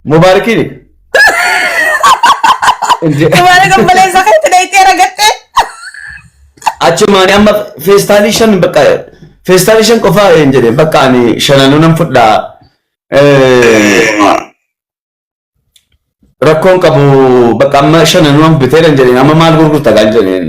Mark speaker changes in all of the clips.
Speaker 1: Mubaarikiin.
Speaker 2: Dubaara gabbaleessa keetti dhayxee ragattee. Achi maani
Speaker 1: amma feestaalii shan bakka feestaalii shan qofaa hin jedhe bakka ani shananuu nan fudhaa. Rakkoon qabu bakka amma shananuu nan bitee nan jedheen amma maal gurgurta kan jedheen.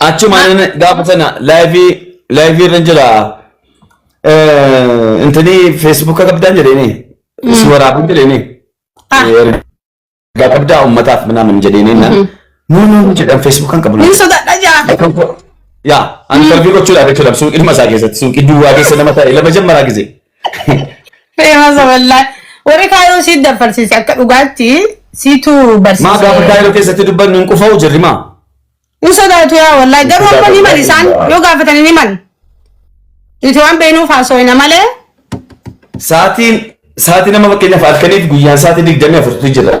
Speaker 1: Achumaan gaafa sana laayivii laayivii irra jira. Intini feesbuuka qabdaan jedheeni. Si waraabuu jedheeni. Ergaa qabdaa uummataaf minaamin jedheeni. Nuu nuu jedhan feesbuukaan qabna. Ni sodaadha jaa.
Speaker 2: Yaa,
Speaker 1: ani tarbii gochuudhaaf jechuudha suuqii dhuma isaa keessatti suuqii duwwaa keessa nama ta'e lama jammaraa gisee.
Speaker 2: Feemasa wallaahi. Warri kaayoo siit dafarsiise akka dhugaatti siitu Maa gaafa barsiise. kaayiroo keessatti
Speaker 1: dubbannu hin qufa'u jirri maa? Ni
Speaker 2: sodaatu yaa wallaahi. Garuu amma ni mali isaan yoo gaafatanii ni mali. Nuti waan beeknuuf haasooyna malee Saatiin
Speaker 1: saatii nama fakkeenyaaf halkaniif guyyaan saatii digdamii afurtu jira.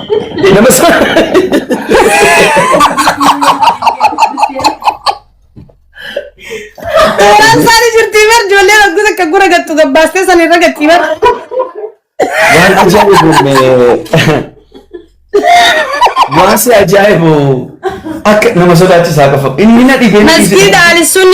Speaker 1: Nama
Speaker 2: Tooraan isaanii jirtii bar ijoollee waggoota akka gura gattu gabbaastee san irra gattii bar.
Speaker 1: waan ajaa'ibu waan si ajaa'ibu akka nama sodaachisaa qofa inni na dhibee Maskiin daalisuun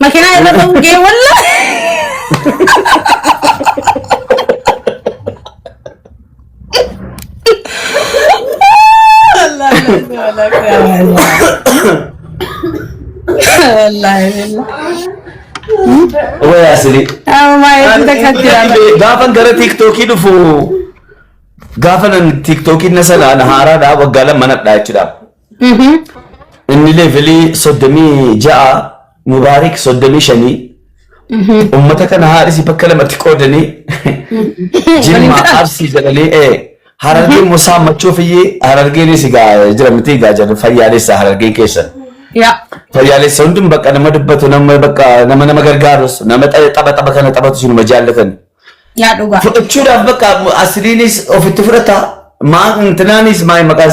Speaker 2: Makinaa
Speaker 1: irra ba'uu gee walla. Waya sili. Gaafan gara tiiktookii dhufu gaafa nan tiiktookii na sanaan haaraadhaa waggaa lama manadhaa jechuudha. Inni leevilii soddomii ja'a mubaarik soddomii shanii ummata kana haadhisi bakka lamatti qoodanii jimma arsii jedhanii ee harargee immoo saammachuuf iyyee harargeenis egaa jira miti egaa jedhu fayyaalessa harargeen keessan. Yaa. Fayyaalessa hundum bakka nama dubbatu nama bakka nama nama gargaarus nama tapha tapha kana taphatu sinuma jaallatan. Yaa dhugaa.
Speaker 2: Fudhachuudhaaf bakka
Speaker 1: asiriinis ofitti fudhata maa intinaanis maa maqaan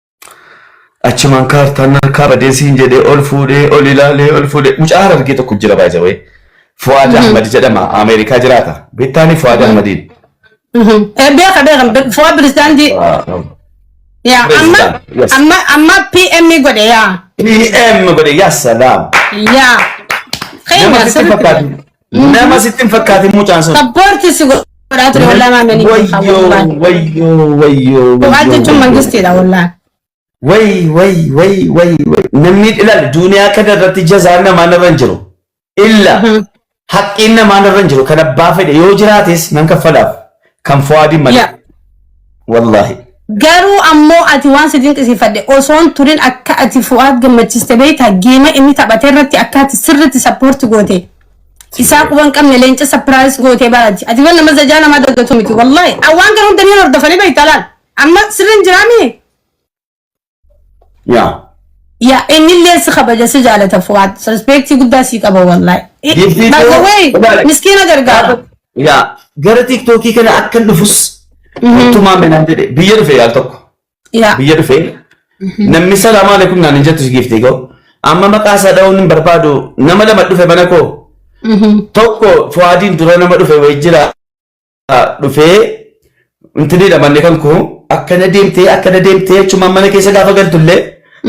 Speaker 1: Achumaan kaartaan harkaa badee siin jedhee ol fuudhee ol ilaalee ol fuudhee mucaa harargee tokko jira baay'isawee. Fuwaad Ahmad jedhama Ameerikaa jiraata. Beektaanii Fuwaad Ahmadiin. Beeka beeka
Speaker 2: fuwaa pirezidaantii. Yaa amma President, yes. amma amma PM godhe yaa. PM godhe
Speaker 1: yaa salaam. Yaa. Nama
Speaker 2: Keenya sitti sirriitti. fakkaatu.
Speaker 1: Nama sitti hin fakkaatin mucaan sun. Sappoorti si godhaa
Speaker 2: ture wallaa maamilii. Wayyoo wayyoo wayyoo.
Speaker 1: Bu'aa jechuun mangistiidha
Speaker 2: wallaa. Way way way way way namni ilaali
Speaker 1: duniyaa kana irratti jazaan namaa narra hin jiru. Illa haqqiin namaa narra hin jiru kan abbaa fedhe yoo jiraates nan kaffalaaf. Kan fuwaadii malee. Yaa. Wallaahi.
Speaker 2: Garuu ammoo ati waan si dinqisiifadhe osoon turin akka ati fu'aad gammachiiste beektaa geema inni taphate irratti akka ati sirriitti sappoorti goote. Isaa quban qabne leenca sapiraayis gootee barati. Ati waan nama zajaa namaa daggatu miti. Wallaahi. Awwaan gara hunda ni hordofanii beektaa laal. Amma sirriin jiraamii? Yaa. Yaa inni illee si kabaja si jaalata fuwaad rispeektii guddaa sii qaba wallahi. Giftii By the too, way ilaali. miskiina gargaara. Yaa
Speaker 1: gara tiktookii kana akkan dhufus uttumaa menaan jedhe biyya dhufe yaal tokko Yaa biyya dhufe namni salaamaa alaikum naan hin jettu si giftee koo amma maqaa isaa dha'uun hin barbaadu nama lama dhufe mana koo tokko fuwaadiin dura nama dhufe wayii jira dhufee intinidha manni kan koo akkana deemtee akkana deemtee jechuun mana keessa gaafa galtullee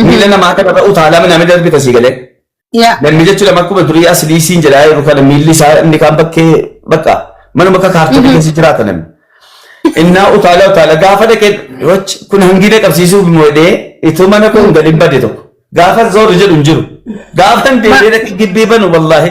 Speaker 1: miila namaa akka irra utaalaa minamee darbita sii galee. Yaa. Namni jechuun amma akkuma durii asilii siin jedhaa jiru kana miilli isaa inni kaan bakkee bakka manuma akka kaartoota keessa jiraata namni. Innaa utaalaa utaalaa gaafa dhaqee wachi kun hangiina qabsiisuuf moodee itoo mana koo hin galin bade tokko gaafa zooru jedhu hin jiru gaafa hin deemee dhaqee gibbee banu wallaahi.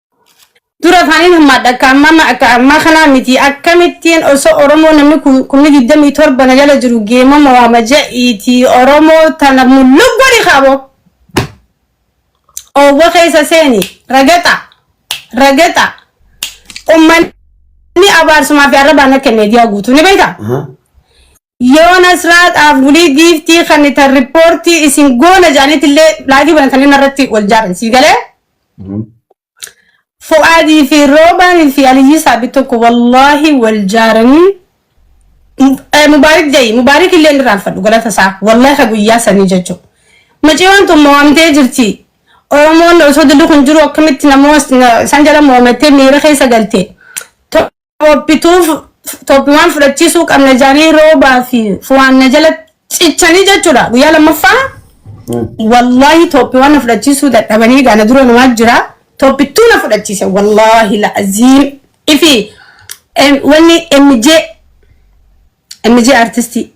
Speaker 2: Dura afaaniin hammaadha akka ammaa ma- akka ammaa kanaa miti akkamittiin osoo Oromoo namni ku- kumni digdamii torba na jala jiru geemama waama ja'iiti Oromoo tana mulluq godhi kaaboo oowwa keessa seeni ragaxa ragaxa ummanni abaarsumaa fi arrabaan akka meediyaa guutuu ni beekta. Yeroo Nasraa dhaaf wly giiftii kannitan ripoortii isin goona jedhanitillee laayivii banatanii narratti wal jaaran sii galee Fu'aadii fi Roobaan fi Aliyyii Saabit tokko wallaahi wal jaaranii Eh, Mubaarik ja'i Mubaarik illee inni raanfadhu galata isaa wallaahi ka guyyaa sanii jechu maciyoon tun mo'amtee jirti Oromoon osoo dilli kun jiru akkamitti namoota isaan jala mo'amattee miira keessa galte Toppituuf toppiwaan fudhachiisuu qabna jaanii roobaa fi fuwaan na jala cichanii jechuudha guyyaa lammaffaa wallaahi toppiwaan na fudhachiisuu dadhabanii gaana dura namaa jira toppittuu na fudhachiise wallaahi la'aziim ifi em, wanni MJ MJ artistii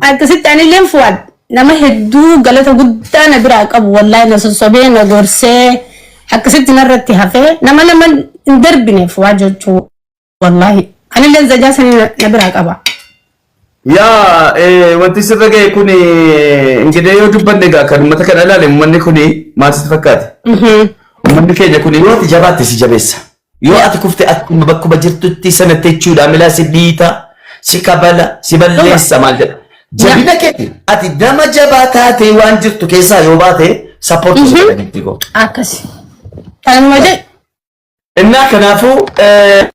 Speaker 2: Akkasitti anilleen Fuwaad nama hedduu galata guddaa na biraa qabu wallahi na sossobee na gorsee akkasitti narratti hafee nama nama hin darbine Fuwaad jechuu wallahi anilleen zajaa sanii na na biraa qaba. Yaa
Speaker 1: eh, wanti sirra ga'e kun ingilee yoo dubbanne egaa kan uummata kana ilaale uummanni kun maal sitti fakkaate? Mhm. Uummanni keenya kun yoo ati jabaatte si jabeessa. Yoo ati kufte akkuma bakkuma jirtutti sana jechuudha milaa si dhiita, si kabala, si Dhuga. balleessa maal jedha. Jabina keeti ati nama jabaa taatee waan jirtu keessaa yoo baate sappoortii si godha gitti koo. Akkasi.
Speaker 2: Kanuma jedhu. Innaa
Speaker 1: kanaafuu eh,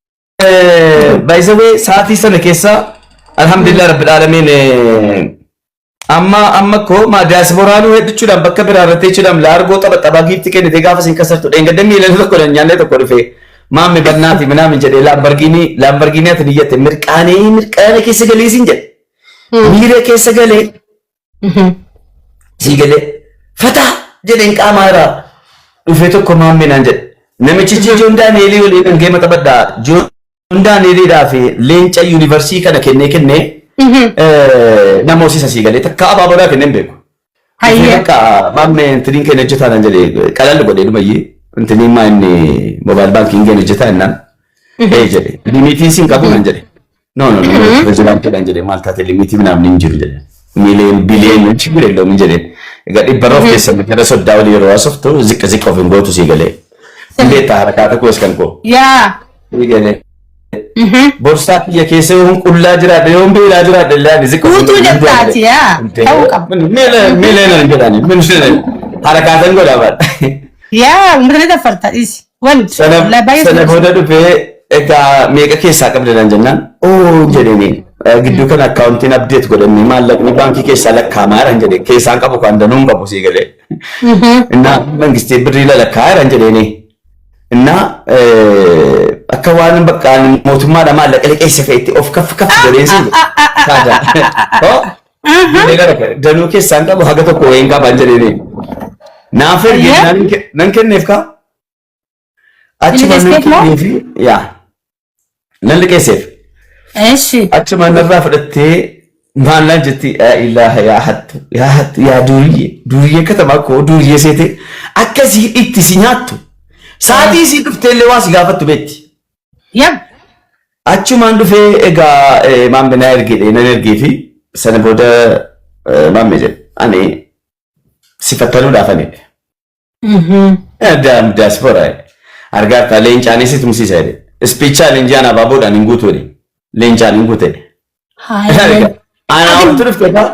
Speaker 1: eh, baay'isawee sa'aatii sana keessa alhamdulillah rabbil aalamiin eh, Amma amma ko ma diaspora nu heddu chudam bakka bira irratti chudam la argo taba taba giifti kenne te gaafa sin kasartu dheen gadda miila tokko dhan nyaanne tokko dhufe maammi bannaati minaamin jedhe laambargiinii laambargiinii ati niyyate mirqaanee mirqaana keessa galee sin jedhe miira keessa galee sii galee fataa jedheen qaamaa irraa dhufee tokko maammi naan jedhe namichi ijoon daaneelii waliin dhangee mata baddaa ijoon Hundaan hiriidhaa fi leenca yuunivarsiitii kana kennee kennee nama hosisa sii galee takka abaa bodaa kennee hin beeku. Hayyee. Bakka maammee intiniin keenya hojjetaa naan jedhee qalalli godhee dhumayyee intiniin maa inni moobaayil baankiin keenya hojjetaa innaan ee jedhe limitiin siin qabu naan jedhe. No no no pirezidaantii naan jedhe maal taate limitii naamni hin jiru jedhe. Miiliyoon biliyoon hin jiru illee hin jedhe. Egaa dhibba roof keessa gara soddaa olii yeroo haasoftu ziqqa ziqqa of hin gootu sii galee. Beektaa harakaata koos kan koo. Yaa.
Speaker 2: ni
Speaker 1: galee. Borsaa kiyya keessa yoon qullaa jiraadhe yoon beelaa jiraadhe illee ani ziqqa Guutuu jettaati
Speaker 2: yaa ta'uu qaba.
Speaker 1: Miilee nan jedhani miilee harakaatan godha bara. Yaa
Speaker 2: mirri dafarta dhisi. Wanti Sana labayee sana
Speaker 1: booda dhufee egaa meeqa keessaa qabda nan jennaan oo jedhani gidduu kana akkaawuntiin abdeet godhannee maallaqni baankii keessaa lakkaa'amaa jiran jedhe keessaan qabu kan danuun qabu sii galee. Innaa mangistii birrii lalakkaa'aa jiran jedheenii. Innaa akka waan bakka mootummaa namaa laqliqeessa fe'etti of kaf kaf godheen siin saadaa. Danuu keessaan qabu haga tokko wayiin qabaan jedheenii. Naaf erge nan kenneef kaa. Achuma nan kenneefi yaa. Nan liqeesseef. Eshi. Achumaan narraa fudhattee maal naan jetti yaa ilaaha yaa hattu yaa hattu yaa duuriyyee duuriyyee katamaa koo duuriyyee seetee akka si itti si nyaattu saatii si dhuftee illee waa si gaafattu beetti. Yab. Achumaan dhufee egaa eh, maammi naa ergedhe nan ergee fi sana booda eh, maammi jedhe ani si fattanuudhaaf ani Daam diaspora argaartaa leencaan isi tumsiisa jedhe. Ispiichaa leenjaan abaaboodhaan hin guutu jedhe. Leencaan hin guute. Haayee. Anaa oltu dhufte faa.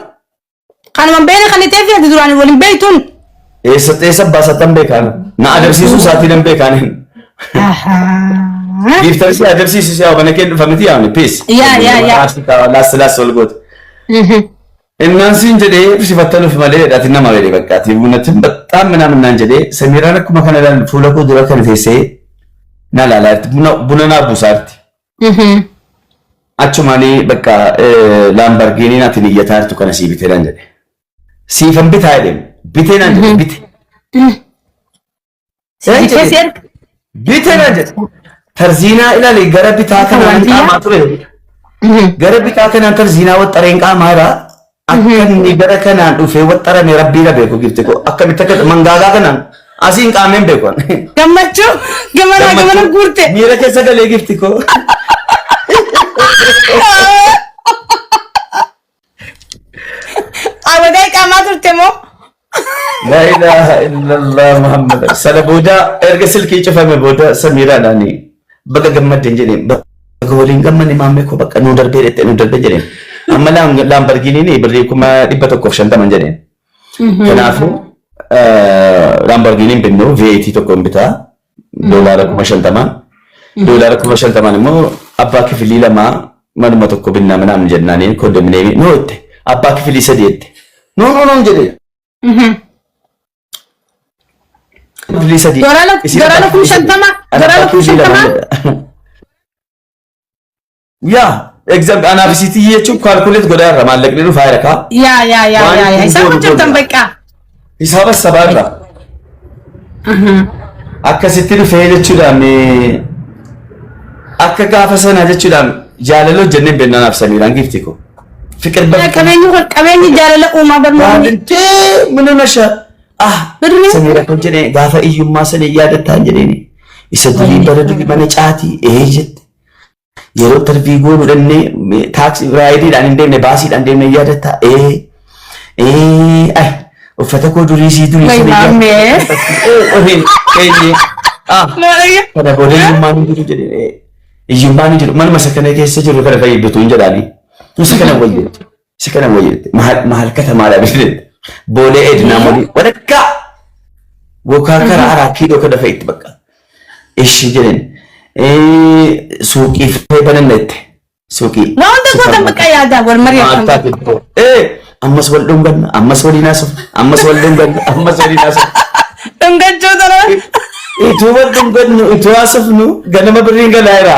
Speaker 1: Kanuman
Speaker 2: beela kan itee fi ati duraan waliin beektuun. Eessa eessa
Speaker 1: baasatan beekaan. Na adamsiisuu isaatii nan beekaan. Giiftan si adamsiisu si hawwana kee dhufa miti yaamne. Peace. Yaa, yaa, yaa. Laas laas wal goote. Innaan siin jedhee ibsifattanuuf malee ati nama jedhe bakka ati buunatin baxxaan minaamin naan jedhee samiiraan akkuma kana ilaalu fuula koo dura kana teessee na ilaalaa jirti buna buna naa buusaa jirti. Achumaanii bakka laambargiiniin ati niyyataa jirtu kana sii bitee naan jedhe. Siifan bitaa jedheen bitee naan jedhe bite. Seen Sii keessi jedhe. erga. Bite na jedhe. Tarziinaa ilaali gara bitaa Isa kanaan waardiyyaa? qaamaa ture. Gara bitaa kanaan tarziinaa waxxareen qaamaa irraa akka inni gara kanaan dhufee waxxarame rabbii na beeku gifte koo akkamitti akka mangaagaa kanaan asiin qaameen beeku. Gammachuu
Speaker 2: gamanaa gamana guurte. Miira keessa galee gifti
Speaker 1: koo.
Speaker 2: Abadaa qaamaa turte moo? La
Speaker 1: ilaha illallah Muhammad. Sana booda erga silkii cufame booda Samiiraadhaan baga gammadden jedheen. Baga waliin gammanne maammee koo bakka nu darbee dhette nu darbee jedheen. Amma laam- laambargiiniin birrii kuma dhibba tokkoof shantaman jedheen. Kanaafuu eh, laambargiiniin binnu VAT tokkoon bitaa. doolaara kuma shantamaan. Doolaara kuma shantamaan immoo abbaa kifilii lamaa manuma tokko binnaa minaan jennaanii kondominiyeemii noo itti abbaa kifilii sadii itti noo noo noo jedhe. Kifilii sadii. Doolaara doolaara kuma
Speaker 2: shantamaa doolaara kuma shantamaa.
Speaker 1: Yaa exam anaaf isiitii jechuun kaalkuleet godhaa irra maallaqni dhufaa jira kaa. Yaa yaa yaa Waan yaa yaa
Speaker 2: kun isaan goonu hojjetan goonu. bakka. Hisaaba
Speaker 1: sabaa irra akkasitti dhufee jechuudhaan eh, akka gaafa sanaa jechuudhaan jaalala hojjennee beeknaan absamiidhaan giifti koo. Fiqir Yaa bakka qabeenyi kun qabeenyi jaalala
Speaker 2: uumaa barnoonni. baadintee mana
Speaker 1: nasha ah Birrii? samiidha kan jedhee gaafa iyyummaa sana yaadattaan jedheeni isa durii bara durii mana caatii ee jette Yeroo intervii goonu dhannee taaksii raayidiidhaan hin deemne baasiidhaan deemne yaadatta. Ee ee ay uffata koo durii sii durii Way maamme. Kana booda hiyyummaan hin jiru jedhee hiyyummaan hin jiru manuma isa kana keessa jiru kana fayyadatu hin jedhaani. Isa kana wayyeetu. Si kana moo jette maal maal kata maal abisne boolee ednaa molii walakkaa gokaa kara araa kiiloo kana fa'itti bakka ishi jedhen suuqii fee bananna jette suuqii Waa hunda koo kan bakka
Speaker 2: yaadaa wal mari'atan. Maaltaa tokko. Ee, ammas
Speaker 1: wal dhunganna, ammas waliin haasofna, ammas wal dhunganna, ammas waliin haasofna. Dhungachuu
Speaker 2: tola. Ituu wal
Speaker 1: dhungannu, ituu haasofnu, ganama birriin galaa jira.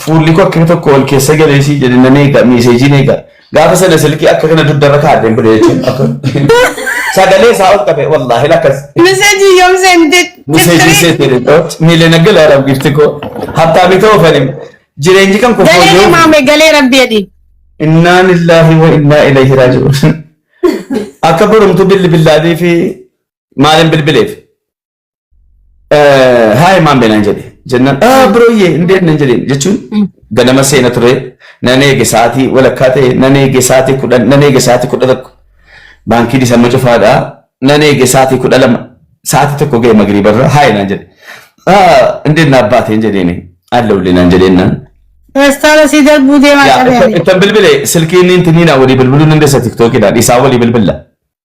Speaker 1: Fuulli koo akkana tokko wal keessa galee sii jedhe nan eega miiseejiin eega. Gaafa sana silkii akka kana dugdarra kaa'adheen bile jechuun akka sagalee isaa ol qabe wallaahi lakkas. Miseejii yoom
Speaker 2: seente? Miseejii seete jedhe
Speaker 1: miileen akka laalam gifti koo hattaamii ta'uu fanim jireenyi kan koo Galee fooyya'u. maame galee
Speaker 2: rabbi jedhi. Innaa
Speaker 1: lillaahi wa innaa ilayhi raaji'uun. Akka borumtu bilbilaadii fi maaliin bilbileef. Haay maan beenaan jedhe jennaan aa birooyyee hin deemne jedheen jechuun ganama seena ture nan eege sa'aatii walakkaa ta'e nan eege sa'aatii kudhan nan eege sa'aatii kudha tokko baankii dhisamma cufaadhaa nan eege sa'aatii kudha lama sa'aatii tokko ga'e magriibarra haay naan jedhe aa hin deemne abbaateen jedheen alla ullee naan jedheen naan Feestaala
Speaker 2: sii darbuu deemaa qabeen. ittan bilbile silkiin
Speaker 1: inni naa walii bilbiluu dandeessa tiktookiidhaan isaa walii bilbilla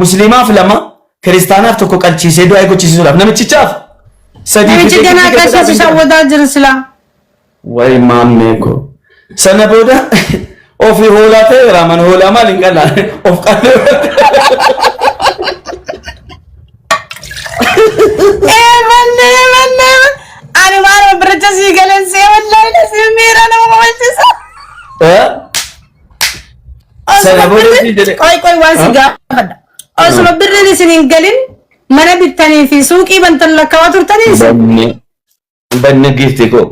Speaker 1: musliimaaf lama kiristaanaaf tokko qalchiisee du'aa gochisiisuudhaaf namichichaaf sadii Namichi fiixee ganaa fiixee keessas
Speaker 2: isaa fiixee wadaa jira silaa. Wayi
Speaker 1: maammee koo. Sana booda ofii hoolaa ta'e raaman hoolaa maal hin qalaa of qallee.
Speaker 2: Ee manne manne ani waan biracha sii galeen see wallaahi na sii miira nama kabachiisa. Eh? Sana booda si jedhe- Qoy qoy waan si gaafadha. Osuma birriin isin hin galin mana bittanii fi suuqii bantan lakkaawaa turtanii isin. Banne banne
Speaker 1: giifti koo.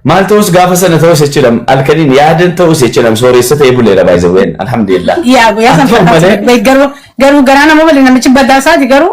Speaker 1: Maal ta'us gaafa sana ta'us jechuudhaan halkaniin yaadan ta'us jechuudhaan sooressa ta'ee buleera baay'isawween alhamdulillah. Yaa guyyaa san Akkuma
Speaker 2: malee- fakkaatu garuu garuu garaa nama waliin namichi badaa isaati garuu